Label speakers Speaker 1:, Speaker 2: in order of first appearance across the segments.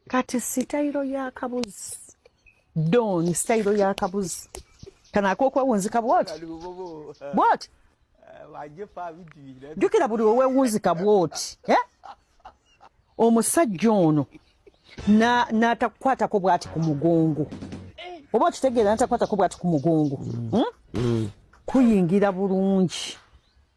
Speaker 1: kati sitayiro yakabuzi don sitayiro yakabuzi kana akokwewunzika bwoti bwoti jukira buli wewewunzika bwoti eh? omusajja ono natakukwatako bwati ku mugongo oba okitegeera natakukwatako bwati ku mugongo hmm? Hmm. kuyingira bulungi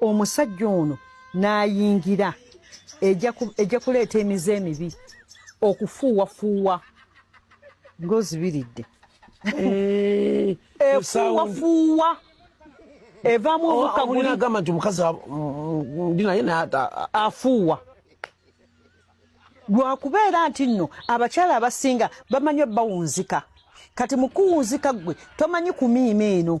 Speaker 1: omusajja ono n'ayingira ejja kuleeta emize emibi okufuuwafuuwa ng'ozibiridde eh, efuuwafuuwa evaamu oh, obukagulagamba nti omukazi
Speaker 2: ndi naye
Speaker 1: afuuwa lwakubeera nti nno abakyala abasinga bamanyi bawunzika kati mukuwunzika gwe tomanyi kumiima eno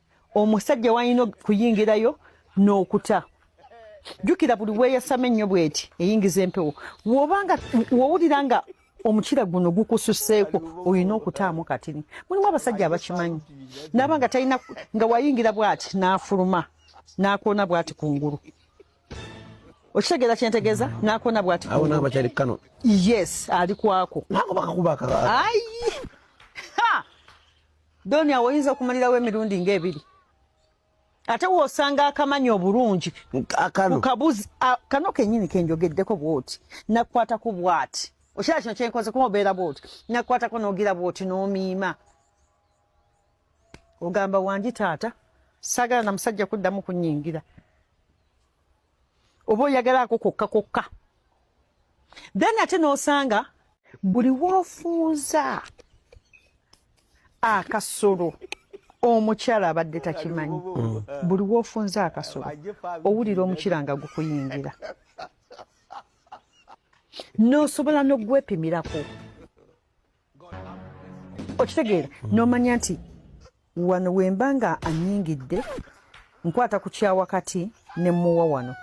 Speaker 1: omusajja walina okuyingirayo n'okuta jjukira buli weeyasama ennyo bweti eyingiza empewo wobanga wowulira nga omukira guno gukususeeko olina okutaamu katini mulimu abasajja abakimanyi naaba nga talina nga wayingira bwati n'afuluma n'akoona bwati ku ngulu okitegeera kyentegeeza n'akoona bwati kano
Speaker 2: yes
Speaker 1: ali kwako ayi Doni awo oyinza okumalirawo emirundi ng'ebiri ate wosanga akamanya obulungi kabuzi kano kenyini kenjogeddeko bwoti nakukwatako bwati okiraba kino kyenkoze kuba obeera bwoti nakukwatako nogira bwoti nomiima ogamba wangi taata sagala na musajja kuddamu kunyingira oba oyagala ako kokka kokka then ate n'osanga buli woofuuza akasolo omukyala abadde takimanyi buli woofunza akasolo owulira omukira nga gukuyingira n'osobola n'ogwepimirako okitegeera nomanya nti wano wemba nga anyingidde nkwata ku kyawakati ne muwa wano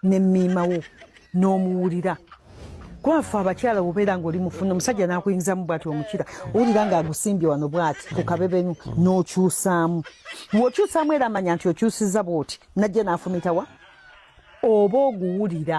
Speaker 1: ne miimawo n'omuwulira kwafe abakyala obeera ngaoli mufuna omusajja nakuyingizamu bwati omukira owulira nga agusimbye wano bwati ku kabebenu n'okyusaamu wokyusaamu era amanya nti okyusiza bwoti najja nafumitawa oba oguwulira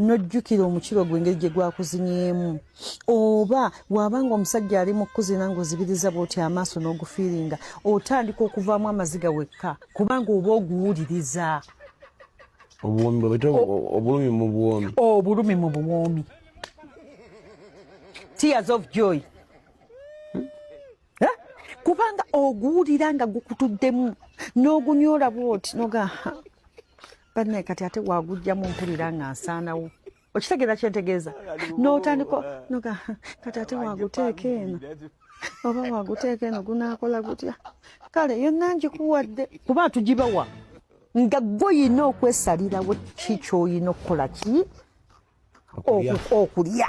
Speaker 1: nojjukira omukiro gwe engeri gye gwakuzinyeemu oba waaba nga omusajja ali mu kukuzina ngaozibiriza bwoti amaaso n'ogufiiringa otandika okuvaamu amaziga wekka kubanga oba oguwuliriza obulumi mu buwoomi obulumi mu buwoomi tears of joy hmm? eh? kubanga oguwulira nga gukutuddemu n'ogunyoola bwoti nogaa banne kati ate wagujjamu mpulira nga nsaanawo okitegeera kyentegeeza notandika noga kati ate waguteeka eno oba waguteeka eno gunakola gutya kale yonna ngikuwadde kuba tugibawa nga gwoyina okwesalirawo ki kyoyina okukola ki okulya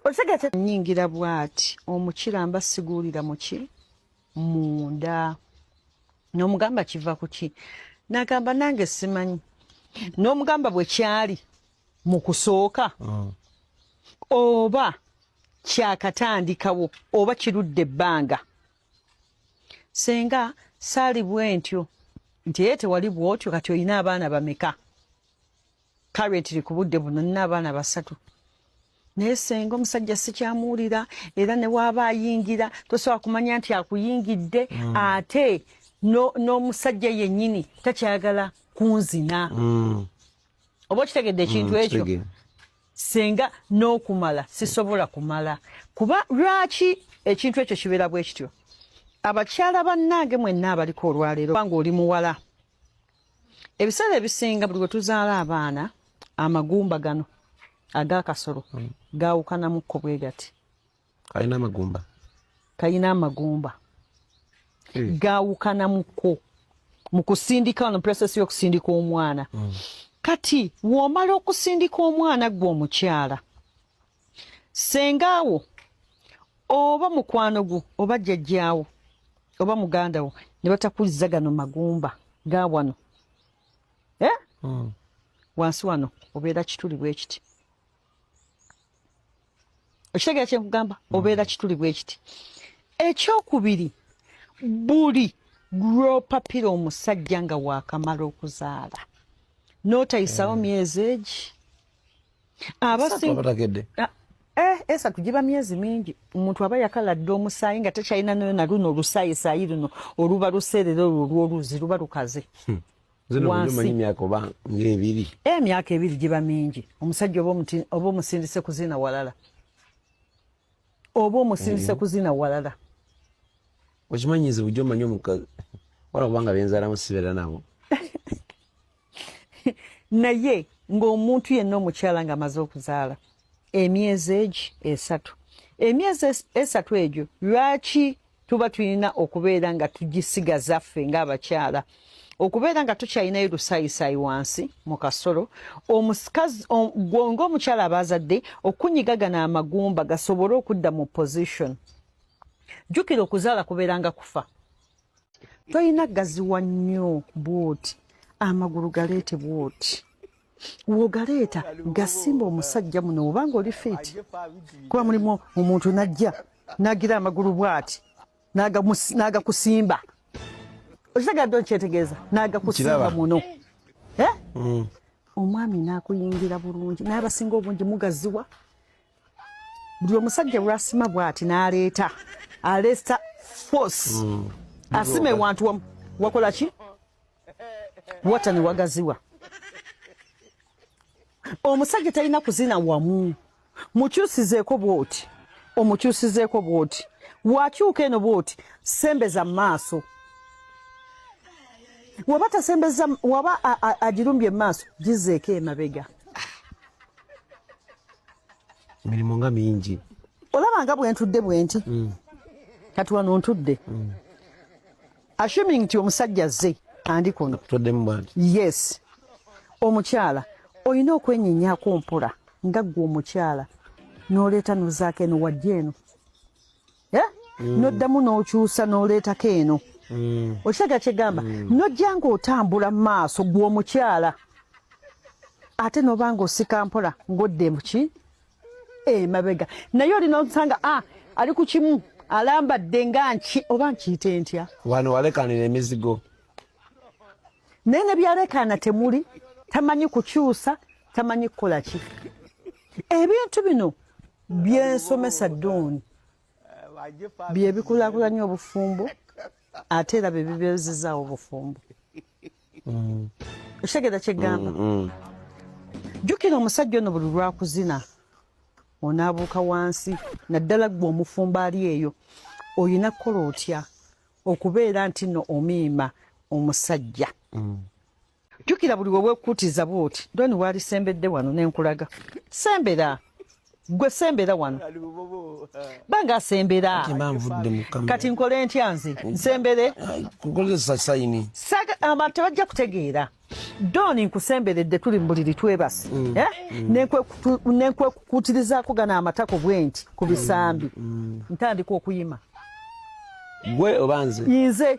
Speaker 1: otegete nyingira bwati omukira mba siguulira muki munda nomugamba kiva kuki nagamba nange simanyi nomugamba bwekyali mukusooka mm. oba kyakatandikawo oba kirudde ebbanga senga saali bwentyo nti ye tewali bwotyo kati olina abaana bameka karetiri ku budde buno nina abaana basatu naye senga omusajja sikyamuwulira era newaaba ayingira tosobola kumanya nti akuyingidde mm. ate n'omusajja no yennyini takyagala kunzina mm. oba okitegedde ekintu mm, ekyo senga n'okumala sisobola kumala kuba lwaki ekintu ekyo kibeera bwe kityo abakyala bannange mwenna abaliko olwaleero kubanga oli muwala ebiseera ebisinga buli wetuzaala abaana amagumba gano agakasolo hmm. gawukanamukko bwe gati kalina amagumba kalina amagumba eh. gawukanamukko mu kusindika no process y'okusindika omwana hmm. kati womala okusindika omwana gwe omukyala senga awo oba mukwano gwo oba jjajjaawo oba muganda wo ne batakuzza gano magumba ga wano eh? mm. wansi wano obeera kituli bwekiti okitegera kyenkugamba mm. obeera kituli bwekiti ekyokubiri buli lwopapira omusajja nga wakamala okuzaala notayisawo mm. myezi egi abasingabategedde ah, eh, esatu giba myezi mingi omuntu aba yakala dda omusaayi nga tekyalina nayo na luno olusaayisaayi luno oluba luseerera olwo olwoluzi luba lukaze hmm. ebiri eh, emyaka ebiri giba mingi omusajja oba omusindise kuzina walala oba omusindise hmm. kuzina walala
Speaker 2: okimanyizi bujo omanyi omukazi wala kubanga benzalamu sibeera nabo
Speaker 1: naye ng'omuntu yenna omukyala ng'amaze okuzaala emyezi egi esatu emyezi esatu egyo lwaki tuba tulina okubeera nga tugisigaza ffe ng'abakyala okubeera nga tukyalinayo lusayisaayi wansi mu kasolo omusikazi ng'omukyala aba azadde okunyiga gano amagumba gasobole okudda mu position jjukira okuzaala kubeera nga kufa tolina gaziwa nnyo bwoti amagulu galeete bwoti wogaleeta gasimba omusajja muno obanga oli fiiti kuba mulimu omuntu najja nagira amagulu bwati nagakusimba okitegedde okyetegeeza nagakusimba muno eh? mm. omwami nakuyingira bulungi naye abasinga obungi mugaziwa buli omusajja bwasima bwati naleeta aleesta force mm. asima ewantu wamu wakola ki wata ne wagaziwa omusajja talina kuzina wamu mukyusizeeko bwoti omukyusizeeko bwoti wakyuka eno bwoti sembeza mu maaso waba tasembeza waba agirumbye mu maaso gizeeko emabega
Speaker 2: emirimu nga mingi olaba nga
Speaker 1: bwentudde bwenti mm. kati wano ntudde mm. assuming nti omusajja zze andi kuno yes omukyala olina okwenyenyako mpola nga ggwe omukyala noleeta nozaako eno wajja eno eh? mm. noddamu n'okyusa n'oleetako eno mm. okitega kyegamba mm. nojja ng'otambula mu maaso gw'omukyala ate noba ng'osika mpola ng'odde muki emabega eh, naye olina osanga a ah, ali ku kimu alambadde nga nki oba nkiyite ntya wano walekanira
Speaker 2: emizigo
Speaker 1: naye ne byalekaana temuli tamanyi kukyusa tamanyi kukola ki ebintu bino byensomesa don byebikulakulanya obufumbo ate era byebibezizawo obufumbo mm. okitegera kyegamba mm, mm. jukira omusajja ono buli lwakuzina onaabuuka wansi naddala gwe omufumbo ali eyo olina kukola otya okubeera nti no omiima omusajja jjukira buli wewekutiza bwoti doni walisembedde wano nenkulaga sembera gwe sembera wano banga asembera kati nkole ntya nze nsembere abantu tebajja kutegeera doni nkusemberedde tuli mubuliri twebasi mm. eh? mm. nenkwekukutirizaako gana amatako bwenti ku bisambi mm. ntandika okuyima
Speaker 2: gwe oba nze nze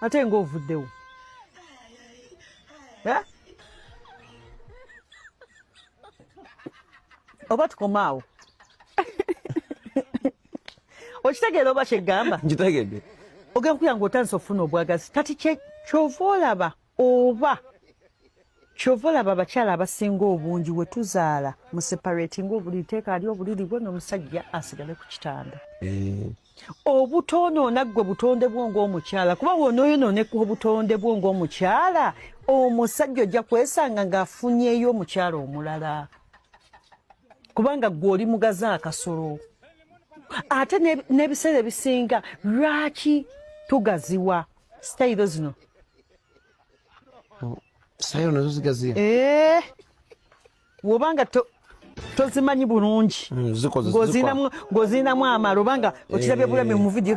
Speaker 1: ate nga ovuddewo eh? oba tukomaawo okitegeera oba kyegamba nkitegedde ogenda kuyanga otandisa okufuna obwagazi kati kyova olaba oba kyova olaba abakyala abasinga obungi wetuzaala museparatinga obuliri teeka ali obuliri bwe nomusajja asigale ku kitanda eh. obutoonoona ggwe butonde bwo ngaomukyala kuba wonoyonooneka obutonde bwo ngaomukyala omusajja ojja kwesanga ngaafunyeyo omukyala omulala kubanga gwe oli mugaze akasolo ate n'ebiseera ebisinga lwaki tugaziwa sitayiro zino
Speaker 2: oh, sitayiro nazo zigaziya ee eh, woba
Speaker 1: nga tozimanyi bulungi hmm, ng'ozirinamu amala oba nga okirabye bulami mu vidiyo